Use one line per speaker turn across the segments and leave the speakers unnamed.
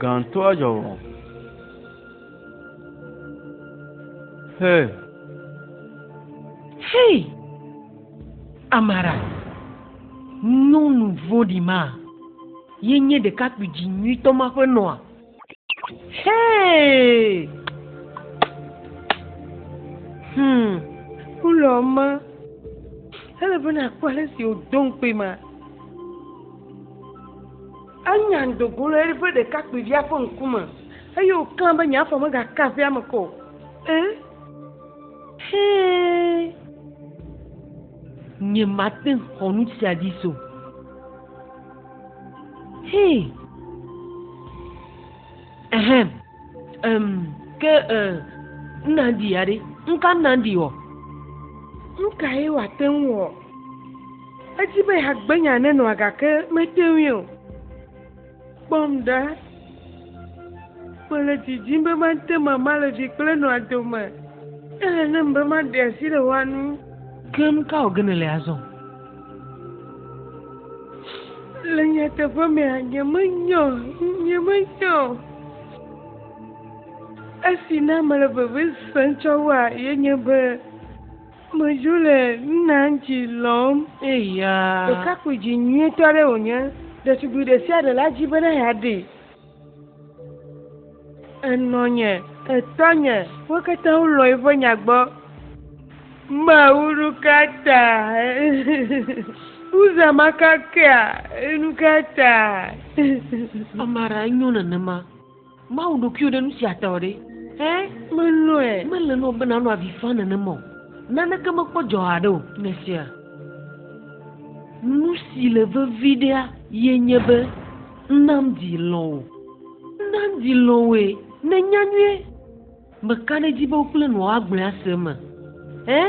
Gãtɔa dzɔ vɔ. He.
Hei, Amara, nyɔnu vɔ̃ɖi ma ye nye ɖekakpui dzi nyuitɔ ma ƒe nɔa? Hey! Hmm. Wulɔ ma. Ele be nakpɔ ale si wòdo ŋukpe ma. Enya ŋdo go le eƒe ɖekakpuivia ƒe ŋkume eye wòka be nye afɔ megaka aƒea me kɔ. Eh? Hey! Nye mate xɔ nu sia dzi so. Hii. Ehem. Em, ke e, Nandi ya ɖe? Ŋka Nandi wɔ? Ŋka ye wòate ŋu wɔ? Edi be yeagbe nya nenɔa gake mete ŋui o. Kpɔm ɖa. Mele didim be mate mama le vi kple nɔa dome. Ele nam be maɖe asi le woa nu. Ke ŋka wògene le azɔ? Le nyateƒe mea, nyemenya o, nyemenya o. Esi na mele veve sem tsɔ wua, yenye be medzo le Nanji lɔm. Eya. Ɖekakpui dzi nyuitɔ aɖe wònye. Ɖetugbui ɖe sia ɖe la dzi bena yeaɖee. Enɔnye, etɔnye, wo katã wolɔ̃ eƒe nya gbɔ. Mawu nu ka ta Uza makakea nu ka ta? Ame aɖe nyo nenema. Mawu ɖokuiwò ɖe nu sia ta o ɖe? Ẽ? Melɔ̃e. Mele na wò be nànɔ avi faa nenema o. Naneke mekpɔ dzɔ haɖe o. Nèsea? Nu si le vevi ɖea, ye nye be. Nam dzi lɔ̃ wò. Nam dzi lɔ̃ wòe. Nènya nyuie. Meka ɖe edzi be wo kple nɔa woagblẽ ase eme. Ẽ?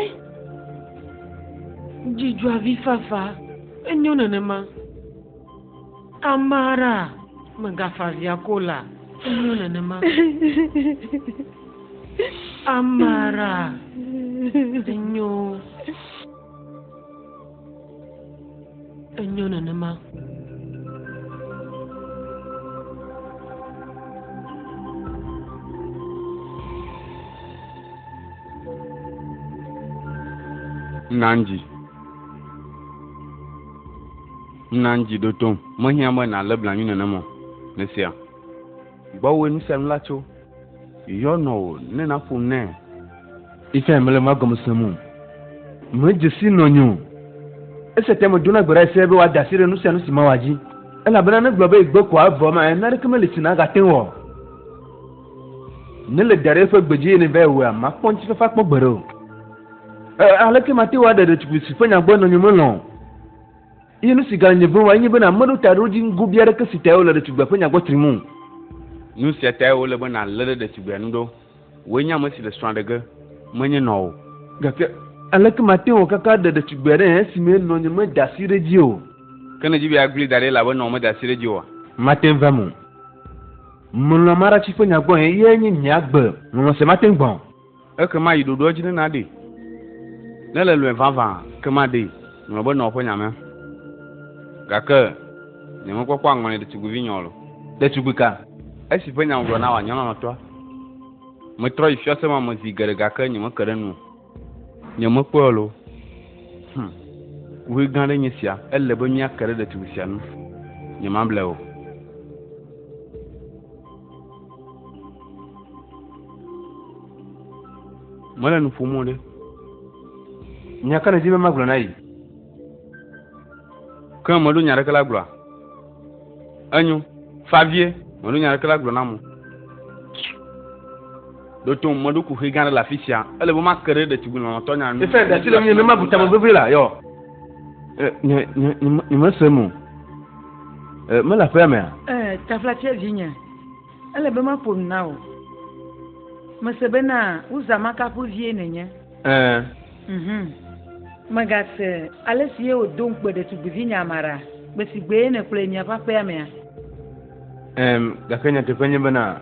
Dzi dzɔa vi fafa. Enyo nenema. Tamara, mègafa avi ake o la. Enyo nenema. Amara, enyo. Enyo
nenema. Nanji. Nanji ɖo tom. Mehiã be nàlé blanui nenema o. Nèsea? Gbɔwòe nu sia nu la tso. Yɔ nɔwò ne naƒom nɛ. Esia
mele nua gɔme sem o. Medze si nɔnye o. Esia ta medona gbe ɖa se be wòada asi ɖe nu sia nu si mawɔ dzi, elabena ne egblɔ be yegbe koa, evɔ ema ɣe naneke meli si nagate ŋu wɔ. Ne le da ɖe eƒe gbe dzi eye nèvae wɔea, makpɔ ŋutifafa akpɔ gbeɖe o. E, aleke mate ŋu aɖe ɖetugbui si ƒe nya gbɔe nɔnye melɔ̃ o? Eye nu si gale nye vem enye be nàme ɖo ta ɖe wo dzi ŋgobia aɖeke si tae wole ɖetugbea ƒe nyagbɔ trim o. Nu sia
tae wòle be nàlé ɖe ɖetugbia nu ɖo. Wòe nye ame si le srɔ̃a ɖe ge, menye nɔa o. Gake
aleke mate ŋu akaka aɖe ɖetugbia ɖe esime nɔnye meda asi ɖe edzi o? Ke nèdi be yeagbli
da ɖi elabe nɔwò meda asi ɖe edzi oa? Mate ŋu vem o.
Melɔ̃a Marachi ƒe nya gbɔe, eyae nye nye agbe. Lɔlɔ̃ sia mate ŋu gbã o. Ekema yi
ɖoɖoa dzi ne naɖee. Ne le lɔe vavã, ekema ɖee. Ŋlɔ be nɔa ƒe nyamea. Gake nyemekpɔkpɔ aŋɔli ɖetugbuivinyɔ lo. Ɖetugbui ka?
Esi ƒe nya
ŋugblɔ na wò anyɔlɔlɔ̃tɔa. Metrɔ yi fiase ma me zi geɖe gake nyemeke ɖe enu o. Nyemekpɔe o lo. Hum! Ʋui gã aɖe nye esia. Ele be míake ɖe ɖetugbui sia ŋu. Nyemable o. mele nu ƒom ɖe
nya ka nedi be magblɔ na yi
ke meɖo nya ɖeke la gblɔa enyo favie meɖo nya ɖeke la gblɔ na mo ɖoto meɖo kuxi gã ɖe le afi sia ele be make ɖe ɖetugbi lɔlɔtɔ nya nu efe ɖati le nye ne mabu
tame vevie la yɔ nyemese mo Ee, mele aƒea mea? Ee, taflatsia
vinye. Ele be maƒo nu na wò. Mese bena Uza Makapu vie nènye. Ee. Mhm. Mègase ale si ye wòdo ŋukpe ɖetugbivinye Amara gbe si gbee nèkplɔe yi miaƒe aƒea mea? Ee, gake
nyateƒe nye bena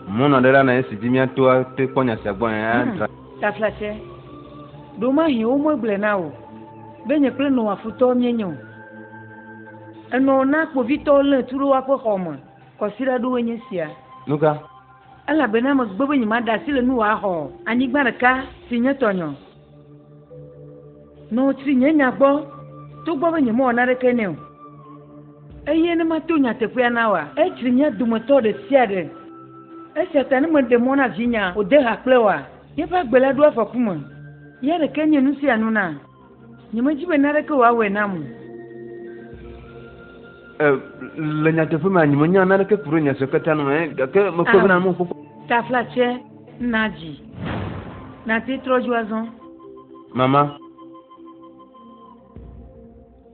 mɔnɔɖela na esi dzi míato ate kpɔ nya sia gbɔe hmm, adzra. Taflatsia,
ɖewomahi womegblɔe na wò be nye kple Noa futɔwo míenye o. Enɔ na kpovitɔwo lé tu ɖe woaƒe xɔ me. Kɔsiɖa
aɖewoe nye esia. Nu ka?
Elabena
megbe be nyemaɖe asi le nuwò axɔ anyigba ɖeka si nye tɔnye o. Nɔ tsri nye nya gbɔ, togbɔ be nyemewɔ naneke nɛ o, eye ne mato nyateƒea na wòa, etsri mía dometɔ ɖe sia ɖe. Esia ta ne meɖe mɔ na vinyea wòde ha kple wòa, míaƒe agbe la ɖo afɔku me. Ya ɖekee nye nu sia nu na. Nyemedi be naneke wòawɔe nam o.
Le nyateƒe mea, nyemenya naneke ku ɖe nya sia katã nu me, gake mekpɔe bena nu kpɔkpɔ. Taflatsɛ
na dzi. Nàte trɔ dzo azɔ. Mama.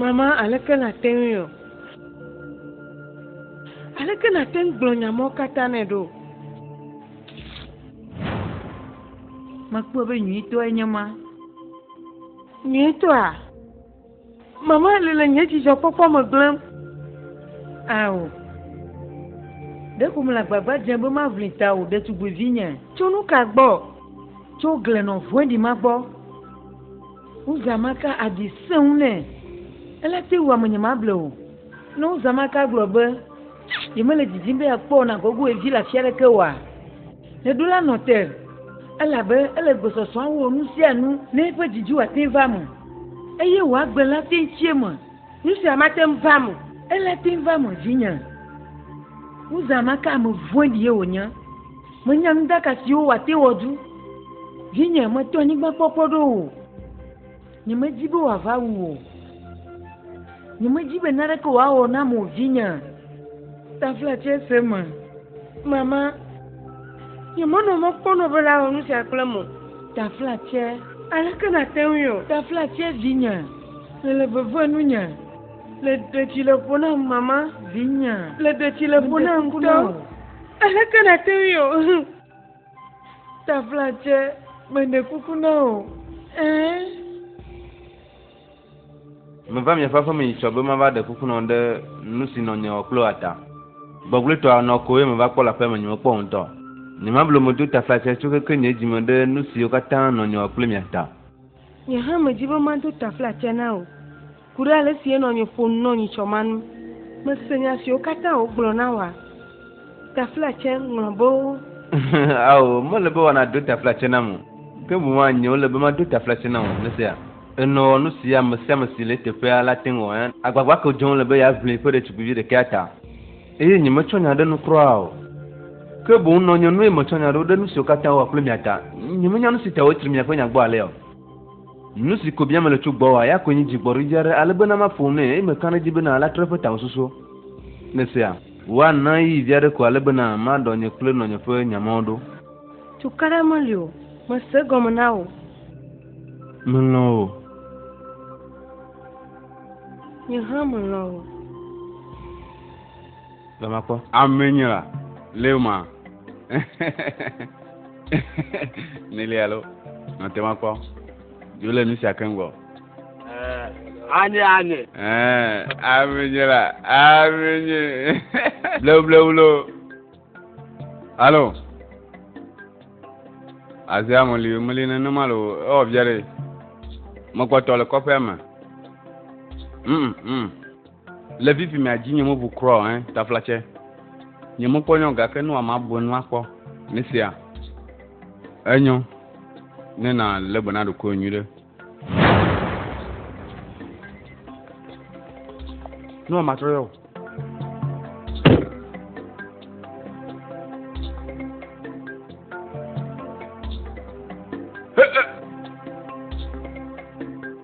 Mama, aleke nàte ŋui o? Aleke nàte ŋu gblɔ nya mawo katã nɛ ɖo?
Mekpɔe be nyuitɔe nye ma. Nyuitɔa?
Mama li le nye dzidzɔkpɔkpɔ me gblẽm.
Ao. Ɖeko mele agbagba dzem be maʋli tawò, ɖetugbuivinye. Tso nu ka gbɔ?
Tso
glenɔvɔ̃ɖi ma gbɔ. Wozã maka aɖi sẽŋu nɛ. Ele te wu ame nyemable o. Ne wozã maka gblɔ be yemele didim be yeakpɔ nagogo ye vi le afi aɖeke oa, neɖo la nɔ te, elabe ele gbesɔsɔa wɔ nu sia nu ne eƒe didi wòate ŋu va eme, eye wòagblẽ le ate ŋu tsi eme. Nu sia mate
ŋu va me. Ele te ŋu va me
dzinye. Uzã maka ame vɔ̃ɖie wònye. Menya nuɖaka siwo wòate wɔ du. Vinye, mètɔ anyigba kpɔkpɔ ɖo o. Nyemedi be wòava wu wò o. Nyemedi be naneke wòawɔ nam o, vinye. Tafla tse se me. Mama,
nyemenɔ mɔ kpɔm nɔ be nawɔ nu sia kplem o. Tafla tse.
Aleke
nàte ŋui o? Tafla tse, vinye.
Èle veve
nunye. Le ɖe dzi le ƒo nam mama. Vinye. Le
ɖe dzi le ƒo
nam ŋutɔ. Aleke nàte ŋui o. Taflatse
meɖe kuku na
wò ɛɛ.
Meva miaƒe aƒe me yi tsɔ be mava ɖe kuku na wò ɖe nu si nɔ nye ɔkploa ta. Gbɔgblɔetɔa nɔ koe meva kpɔ le aƒea me nyemekpɔ o ŋutɔ. Nyemablo me do taflatse tso keke nye dzi me ɖe nu siwo katã nɔ nye ɔkplimia ta. Nye hã
medi be mado taflatse na wò. Ku ɖe ale si enɔ nye ƒo nu nɔ nyitsɔ ma ŋu. Mese nya siwo katã wògblɔ na wòa? Taflatse ŋlɔbewo. Ao,
mele be wòanado taflatse nam o, ke boŋ anye wòle be mado taflatse na wò. Nèsea? Enɔ wɔ nu si ame sia ame si le eteƒea la ate ŋu awɔ. Agbagba ka wòdzem wòle be yeaʋli eƒe ɖetugbivi ɖekɛa ta? Eye nyemetsɔ nya ɖe nu kura o, ke boŋ nɔ nye nue metsɔ nya ɖo ɖe nu siwo katã wowɔ kple mia ta. Nyemenya nu si ta wotsri miaƒe nya gbɔ alea o. Nu si ko biam mele tso gbɔwòa, eya koe nye dzigbɔɖidzi aɖe ale be na maƒo nue, eye meka ɖe edzi be na latrɔ eƒe tamesusuwo. Nèsea? Woana ɣeyiɣi vi aɖe ko ale be na maɖɔ nye kple nɔnye ƒe nya mawo ɖo. Cukaɖa
meli o. Mese egɔme na wò.
Melɔ̃ wò.
Nye hã melɔ̃ wò.
Be makpɔ. Ame nye la,
leo ma. Nili alo, nɔte makpɔ. Dzo le nusia ke ŋgɔ. Anye
anye. Ame
nye la, ame nye. Bleu bleu lo. Alo. Azia meli meli nenema lo, ewɔ via ɖe. Mekpɔtɔ le kɔƒea me. Mm mm. Le vivi mea dzi nyemo bu krɔ hein tafla tse. Nyemo kpɔ nyɔ gake nu ama bu enu akpɔ. Mesia. Enyo. Ne na le gbe na ɖokɔ nyui ɖe. Nu ama trɔ yɔ.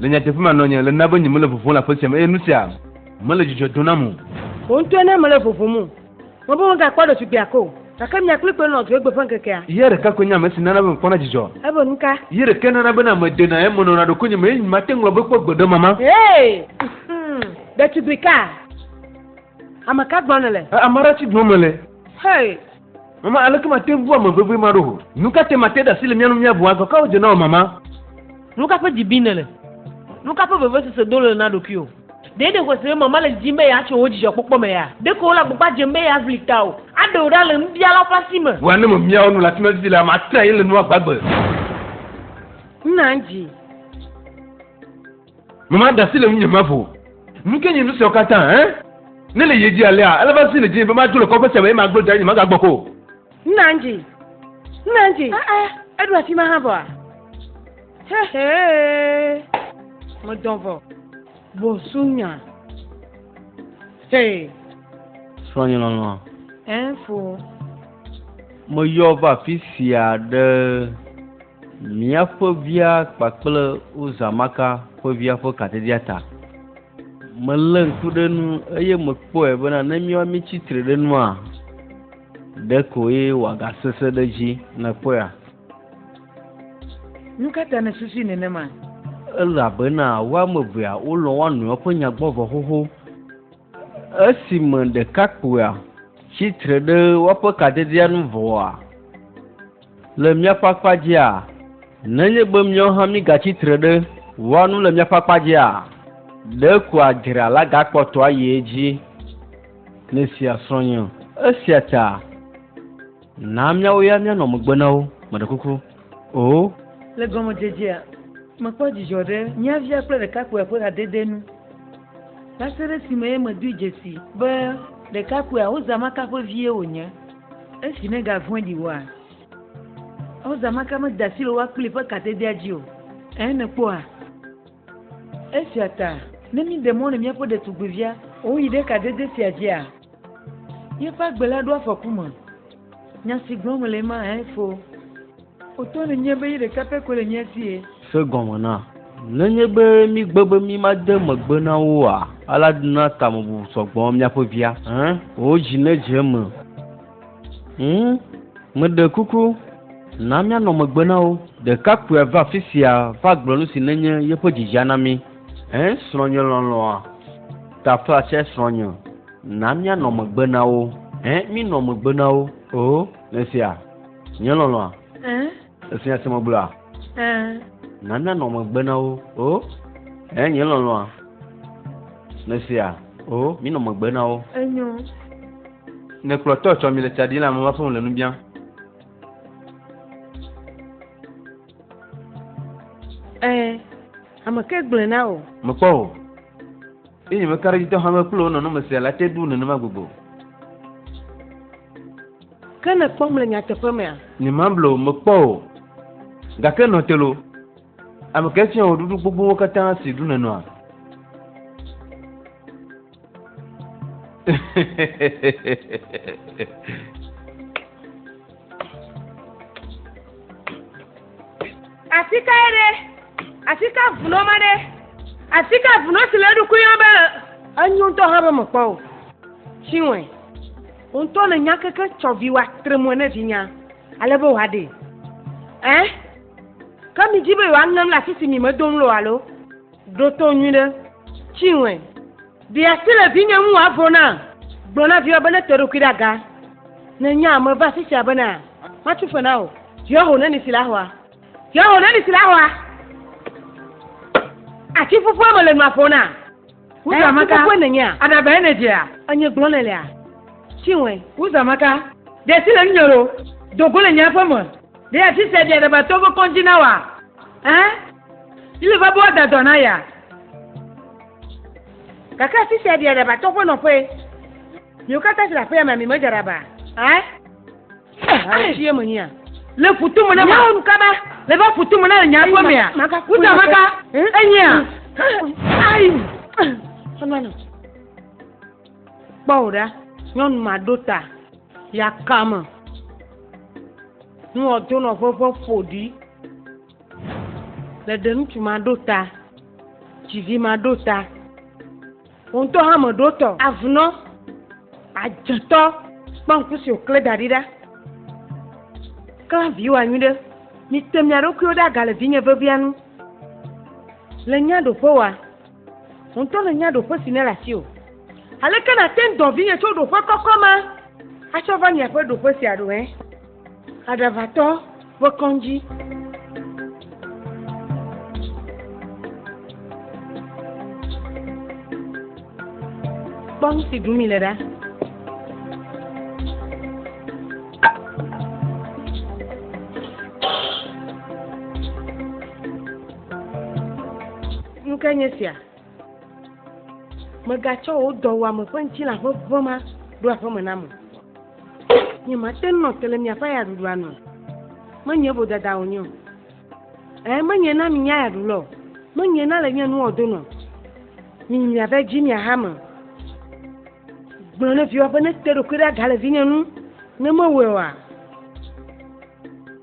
Le nyateƒe me nɔnye le na be nyemele vovom le aƒe sia me eye nu sia mele dzidzɔ dom nam o. Wò ŋutɔe ne
mele vovum o. Mebe megakpɔ ɖetugbui gake o. Gake mia kpli kpoe nɔa dzoegbe ƒe ŋkekea. Ye ɖeka koe nye ame si nana
be mekpɔna dzidzɔ. Ebe nuka? Ye
ɖekae nana be na
medena eme nɔna ɖokuinye me eye nyemate ŋu agblɔ be kpɔ gbeɖemama. Hee! Ŋhum!
Ɖetugbui ka? Ame ka gbɔ nèle? Ame aɖe tsi dome le.
Hey!
Mama, aleke
mate ŋu bu ame vevie ma ɖo ho? Nu ka te mate ɖe asi le mía nu míabu? Agɔ kawo dze na wò, Mama? Nu ka ƒe
dzi bim nèle? Nu ka ƒe vevesese dom nèle na ɖokuiwò? Ɖe nèxɔe se be Mama le didim be yeatso wò dzidzɔkpɔkpɔ me ya? Ɖeko wòle agbagba dzem be yeaʋli tawò, aɖe wò ɖa le nubialawo ƒe asi me. Ŋua ne memia wò nu le afi
ma vivi lea, matrã ye le nua gbagbe. Na
dzi.
Mama da asi le ŋunye mavo. Nu ke nye nu siawo katã, ẽ? Ne le yie dzi alea, ele va si le dzinye be madzo le kɔƒe sia me eye magblɔ dza nye magagbɔ ko. Nna ŋdzi.
Nna ŋdzi. A'a, eɖo afi ma hã vɔa? Hehee. Medɔ vɔ. Bɔsunya. Hey. Srɔ̃nye
lɔlɔ̃a. Ɛnfo. Meyɔ va afi sia ɖe. Mia ƒe via kpakple Uza Maka ƒe via ƒe katedia ta. Melé ŋku ɖe nu eye mekpɔe bena ne míawo míetsi tre ɖe nua, ɖe koe wòagasesẽ ɖe edzi. Nèkpɔea?
Nu ka ta nèsusui nenema? Elabena
wo ame evea wolɔ̃ wo nɔewo ƒe nya gbɔ vɔ xoxo. Esime ɖekakpuia tsi tre ɖe woaƒe katedia nu vɔa, Le míaƒe akpa dzia, nenye be míawo hã mígatsi tre ɖe wɔa nu le míaƒe akpa dzia, ɖeko adzra la gakpɔtɔ ayi edzi ne sia srɔ̃nye o. Esia ta na míawo ya míanɔ megbe na wo, meɖe kuku o. Le gɔmedzedzea,
mekpɔ dzidzɔ ɖe mía via kple ɖekakpuia ƒe hadede nu va se ɖe esime medoe dzesii be ɖekakpuia Ozamaka ƒe vie wònye. Esi megavɔ̃e ɖi oa, Ɔza maka meda asi le woa kpli ƒe katedia dzi o. Ẽ, nèkpɔa? Esia ta, ne míeɖe mɔ nɔ míaƒe ɖetugbivia wòyi ɖe kadede sia dzia, yeƒe agbe la ɖo afɔku me. Nya si gblɔm mele ema, ẽ, fo. Wòto nu nyuie be yi ɖeka pɛ koe le mía si ye. Se gɔme na.
Nenye be mígbe be mímade megbe na wo oa, alea na tamebubu sɔ gbɔ míaƒe via. Ẽ, wò dzi nedze eme. Ŋ, meɖe kuku, na míanɔ megbe na wo. Ɖekakpuia va afi sia va gblɔ nu si nenye yeƒe dzidzia na mí. Ẽ, srɔ̃nye lɔlɔ̃a, tafla tsɛ srɔ̃nye, na míanɔ megbe na wo. Ẽ, mínɔ megbe na wo. Oo, nèsea? Nye lɔlɔa. Eh. Efi ase me gblɔa. Eh. Nana nɔ megbe na wo. O. Eh nye lɔlɔa. Mesia. O mi nɔ megbe na wo. Enyo.
Ne kplɔ tɔ tsɔ mi le tsa di la me va fún le nu bia.
Eh. Ame ke gblẽ na o. Mekpɔ o.
Inyimekaɖedzitɔ hame kple wo nɔnɔme sia la te ɖu nenema gbogbo.
Ke nèkpɔm le nyateƒe mea? Nyemable wò mekpɔ
o. Gake nɔ te loo. Ame kae fia wò ɖuɖu gbogbowo katã si ɖum nènɔa?
Afi kae ɖe? Afi ka vunɔ ma ɖe? Afi ka vunɔ si le eɖokui yɔm be enyo ŋutɔ hã be mekpɔ o? Tsi wɔe. Wò ŋutɔ le nya keke tsɔ vi wa tre mɔe ne vinya ale be wòaɖee. Ẽ? Ke midi be yewoaŋem le afi si mi medo ŋu le o alo? Ɖo to nyuiɖe. Tsi ŋɔe. Ɖe asi le vinye ŋu wòavo na. Gblɔ na viwò be nete eɖokui ɖe aga. Ne nya ame va afi sia bena, Matso fe na wò. Viwò ho neli si le ahɔa. Viwò ho neli si le ahɔa. Ati ƒuƒua me le nua ƒo na. Wuzamaka. Kókó ne nyea. Adaba
ene dzea.
Enye gblɔ ne lea.
Tsiwɔe. Wuzamaka.
Ɖe si le nu nyɔro. Dogo le nye aƒe me. Ɖe ya tsi se ɖe adaba tɔ ve kɔn dzi na wa. Ɛ. Ile va bo ada dɔ na ya. Gake asi se ɖe adaba tɔ ƒe nɔƒe. Miwo kata si le aƒe ya me mi me dze adaba. Ɛ.
Asie me nya. Le futu me na
ma. Nyɔnu kaba. Le va
futu me na
le nya kwe me ya. Wuta maka. Enye ya. Ayi.
Anana. Kpɔ o ɖa. Nyɔnu ma ɖo ta. Ya kame. Nua do nɔ ƒe ƒe ƒoɖi. Le ɖe ŋutsu ma ɖo ta. Dzivi ma ɖo ta. Wò ŋutɔ hã me ɖo tɔ. Avnɔ, adzetɔ, kpɔ ŋku si wòklẽ da ɖi ɖa. Klã viwòa nyui ɖe. Mite mia ɖokuiwo ɖe aga le vinye vevia nu. Le nya ɖoƒe wɔa. Wò ŋutɔ le nya ɖoƒe si nèle asi o. Aleke nàte ŋu dɔ vinye tso ɖoƒe kɔkɔ ma atsɔ va miaƒe ɖoƒe sia ɖo hẽ? Aɖaʋatɔ ƒe kɔŋdzi. Kpɔ nu si ɖum le ɖa. Nuke nye sia? Mègatsɔ wò dɔwuame ƒe ŋutilã ƒe ʋe ma ɖo aƒeme nam o. Nyemate ŋu nɔ te le miaƒe ayaɖuɖua nu o. Menye vodada wònye o. Ɛ̃, menye na minye ayaɖula o. Menye na le nye nuwɔdonu o. Miyi miava edzi miaha eme. Gblɔ ne viwòa be nete eɖokui ɖe aga le vinye ŋu, ne mewɔe oa,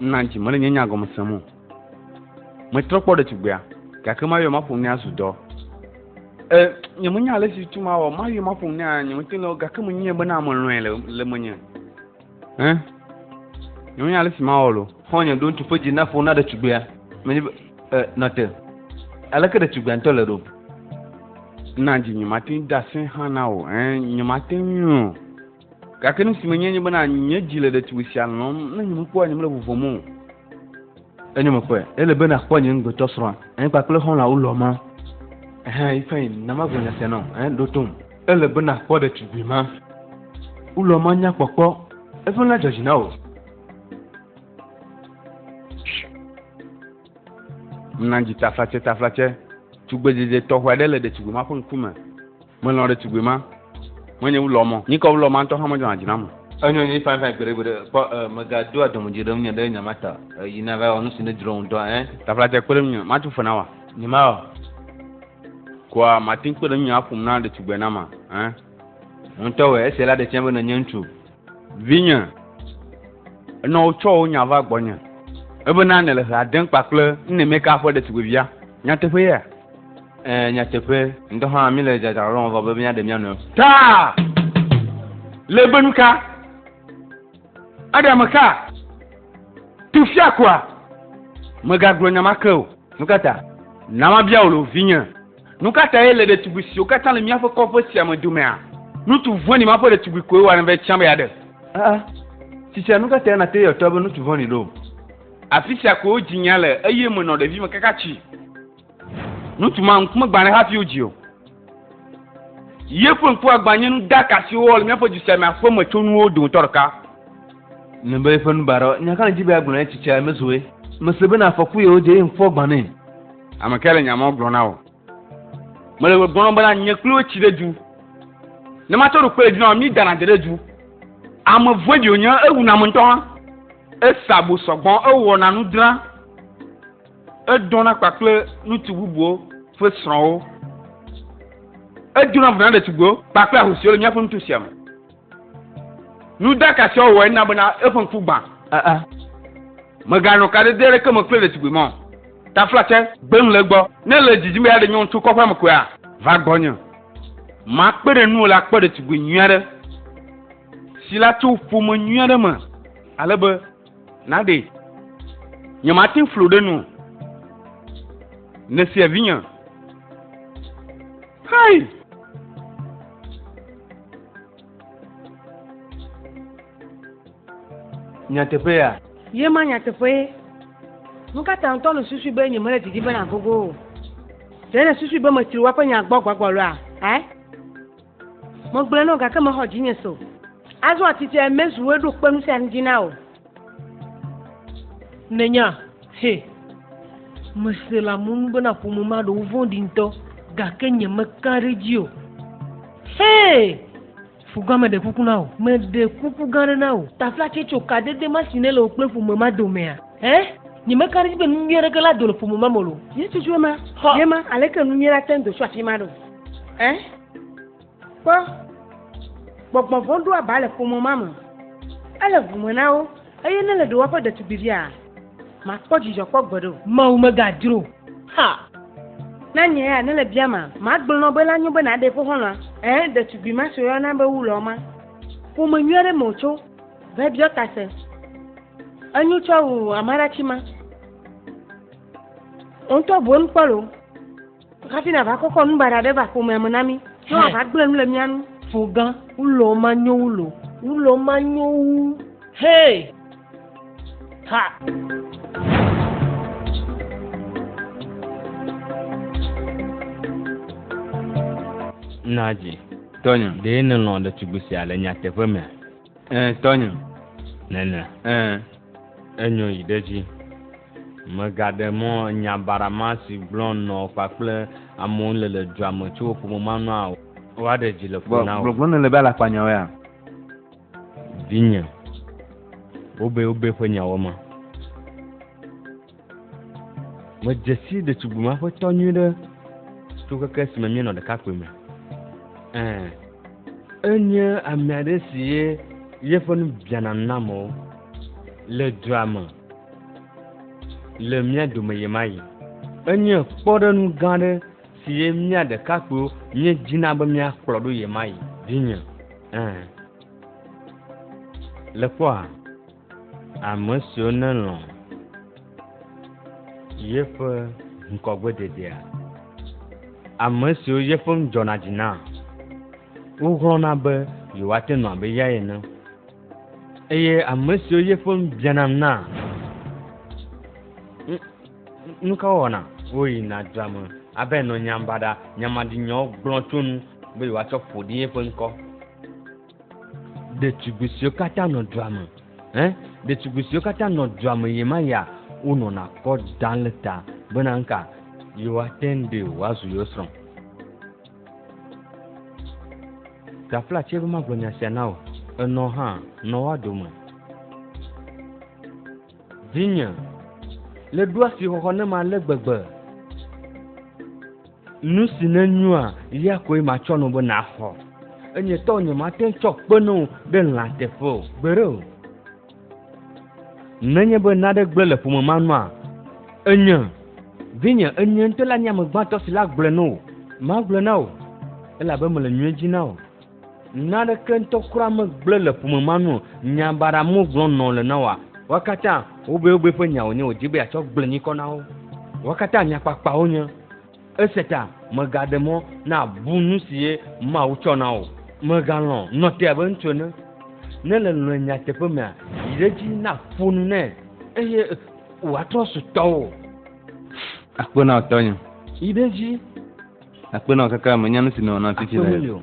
na dzi mele nye nya gɔme sem o metrɔ kpɔ ɖetugbea gake mayɔ maƒo nɛ azu dɔ e nye menya ale si tu mawɔ mayɔ maƒo nɛ nye mete le gake menyia bena melɔe le le menye ɛ nye menya ale si mawɔ lo xɔ nye ɖo ŋutsu ƒe dzi
na ƒo na ɖetugbea menye be e nɔte aleke ɖetugbea ŋutɔ le ɖo
na dzi nye mate ŋu de asɛ hã na o ɛ nye mate ŋu o Gake nu si menye nye bena nye dzi le ɖetugbui sia lɔm, ne nyemekpɔa nyemele vuvɔm o.
Enye meƒe, ele be nakpɔ nye ŋugbetɔ srɔ̃a, eh, kpakple xɔlɔ̃awo lɔma. Eh, yi fɛn, na magblɔ nya sia nɔ, eh, ɖo tom. Ele be nakpɔ ɖetugbui ma. Wulɔma nya kpɔkpɔ, eƒe la dzɔ dzi na wò.
Mena dzi taflatse taflatse. Tugbedzedze tɔxɛ aɖe le ɖetugbui ma ƒe ŋkume. Melɔ̃ ɖetugbui ma. Menye wu lɔmɔ. Nyikɔ wu lɔmɔ ŋutɔ hã medzɔna dzi nam o. Enyo na mi fanfan
gbeɖegbeɖe. Kpɔ ẽ, mègadoa dɔmedzoe ɖe ŋunye ɖe nya ma ta o. Yi nava wɔ nu si nèdzro ŋutɔ ẽ. Taflatse, kpe ɖe ŋunye.
Matu fe na wòa? Nyemawɔ. Koa màte ŋu kpe ɖe ŋunye aƒom na ɖetugbenama ẽ?
Ŋutɔe, esia la ɖe fiã be nènye ŋutsu. Vinye,
enɔ wotsɔ wò nya va gbɔnye ebena nèle hea dem kpakple Nnemeka ƒe ɖetugbivia. Nyateƒe yea? Ẽ, nyateƒe.
Ŋutɔ hã míle dzadzra lɔlɔ̃ vɔ be míaɖe mía nɔewo. Ta!
Le be nuka? Eɖe ame ka? Tu fiakɔa? Mègagblɔ nya ma ke o. Nukata? Na mabia wò lo, vinye. Nu ka tae le ɖetugbui siwo katã le míaƒe kɔƒe sia me domea, nutu vɔ̃ɖi ma ƒe ɖetugbui koe wɔna vɛ tsã be yeaɖe? Aa,
tsitsia nu ka tae nàte yɔ tɔa be nutu vɔ̃ɖi ɖo? Afi sia
koe wodzi nya le eye menɔ ɖevime kaka tsi. Nutu ma ŋku megbã ɖe hafi wodzii o. Ye ƒe ŋkua gbã nye nuɖaka si wowɔ le míaƒe du sia me aƒemetsonuwo dometɔ ɖeka. Ne
be eƒe nubaɖɔ, nya ka nèdi be yeagblɔ na ye tsitsia mezoe? Mese bena afɔku ye wodze eye ŋkua gbã nɛ. Ame kae le nya
ma gblɔ na wò? Mele gbɔgblɔm bena nye kple wò tsi ɖe du. Ne matsɔ ɖo kpe ɖe dzi na wò, mi dana de ɖe du. Ame vɔe ɖi wònye, ewu na ame ŋutɔ hã. Esa bo sɔgbɔ, ewɔ na nu dra. Edɔ na kpakple ŋutsu bubuwo ƒe srɔ̃wo. Edo na vo na ɖetugbiwo kpakple ahosiwo le míaƒe nuto sia me. Nu da ka sia wɔwɔe na bena eƒe ŋku gbã? Aa. Meganɔ kaɖedɛ aɖeke me kple ɖetugbui ma o. Taflatse, gbem le egbɔ. Ne èle didim be yeaɖe nyɔnu tso kɔƒea me koea, va gbɔnye. Makpe ɖe nuwò le akpɔ ɖetugbui nyui aɖe, si la tso ƒome nyui aɖe me ale be, Na ɖe nyemate ŋu flo ɖe nu o. Nèsia vinye. Hei!
Nyateƒe ya. Ye ma nyateƒee.
Nu ka ta ŋutɔ nèsusui be nyemele didim be nàgogo o? Ɖe nèsusui be metsri woaƒe nya gbɔ gbagbe aloa? Ɛ? Megblɔe na wò gake mexɔ dzinye se o. Azɔ atitse mezu wòe ɖo kpe nu sia nu dzi na wò.
Nènya, he, mese le amewo nu bena ƒome ma ɖewo vɔ̃ɖi ŋutɔ, gake nyemeka ɖe edzi o. He! Fugã meɖe kuku na wò. Meɖe kuku gã aɖe na wò. Taflatse tso kadede ma si nele wò kple ƒome ma domea? He! Nyemeka ɖe edzi be nu nyui aɖeke la do le ƒome ma me o. Yesu tso ema,
ye ma, aleke nu nyui la te ŋu do tso afi ma ɖo? Ɛ? Kpɔ, gbɔgbɔ vɔ̃ ɖo aba le ƒome ma me. Ele ŋu me na wo, eye ne le ɖewoaƒe ɖetugbiviaa, makpɔ dzidzɔ kpɔ gbeɖe o. Mawu megadzro o.
Ha! Na
nye ya ne le bia ma, magblɔ nɔ be la nyo be naɖe eƒe xɔlɔ̃a. Ɛ? Ɖetugbi ma si woyɔna be Wulɔ ma, ƒome nyui aɖe me wòtso va biɔ tase. Enyo tsɔ wu amaɖatsi ma. Wò ŋutɔ boŋ kpɔ loo. Hafi nava kɔkɔ nu baɖa ɖe va ƒomea me na mí. Ne wòava gblẽ nu le mía nu. Fogã, wulɔ
manyo wulɔ. Wulɔ manyo wu. Hee! Ha!
Nadzi. Tɔnye. Ɖe nèlɔ̃
ɖetugbui
sia le nyateƒe mea? Ɛɛ, tɔnye.
Nene.
Ɛɛ. Enyo yi ɖe edzi. Megaɖe mɔ nya baɖa ma si gblɔm nɔ kpakple amewo le le dua me tso ƒome ma nua o. Woaɖe dzi le ƒo na wò. Gbɔgblɔ nèle be alakpanyawoea? Vinye, wobee wobee ƒe nyawo ma. Medze sii ɖetugbui ma ƒe tɔ nyuiɖe tso keke esime míenɔ ɖekakpuime. Ẽ, enye ame aɖe si ye yeƒe nu biana nam o le dua me. le mía dome ɣe ma ɣi. Enye kpɔɖeŋu gã aɖe si ye mía ɖekakpuiwo míedzina be míakplɔ ɖo ɣe ma ɣi, vinye. Ẽ. Le kpɔa? Ame siwo nelɔ̃ yeƒe ŋkɔgbededea, ame siwo yeƒe nu dzɔna dzi na, woxlɔ̃na be yewoate nu abe eyae ene. Eye ame siwo ye ƒe nu bianam na, nu ka wɔna? Woyina dua me abe nɔ nyam baɖa, nyamaɖinyawo gblɔ tso nu be yewoatsɔ ƒo ɖi eƒe ŋkɔ. Ɖetugbui siwo katã nɔ dua me, eh, ɖetugbui siwo katã nɔ dua me ɣe ma ɣia, wonɔna kɔ dam le ta bena nuka yewoate ŋu ɖe wòazu yewo srɔ̃. Gafla tse be magblɔ nya sia na wò, enɔ hã, nɔ woa dome. Vinye, le ɖo asi xɔxɔ ne ma le gbegbe. Nu si ne nyua, ya koe matsɔ no be naxɔ. Enye tɔ nye mate ŋu tsɔ kpe ne wò ɖe lã teƒe o. Gbeɖe o. Nenye be naɖe gblẽ le ƒome ma nua, enye vinye enye ŋutɔ la nye ame gbãtɔ si la gblẽ no o. Magblẽ na o, elabe mele nyuie dzi na o. Naɖeke ŋutɔ kura megblẽ le ƒome ma nu o. Nya baɖa mo gblɔm nɔ le na woa. Woa katã wobewobee ƒe nya wònye wòdi be yeatsɔ gblẽ nyikɔ na wo. Woa katã nyakpakpawo nye. Esia ta mègaɖe mɔ nàbu nu si ye Mawu tsɔ na wò o. Mègalɔ̃ nɔte abe ŋutsu ene. Ne èle lɔ̃e nyateƒe mea, yi ɖe edzi naƒo nu nɛ, eye wòatrɔ zu tɔwò.
Akpe na wò tɔnye. Yi ɖe edzi. Akpe na wò kekeame.
Nya
nu si nèwɔ nam fifi le.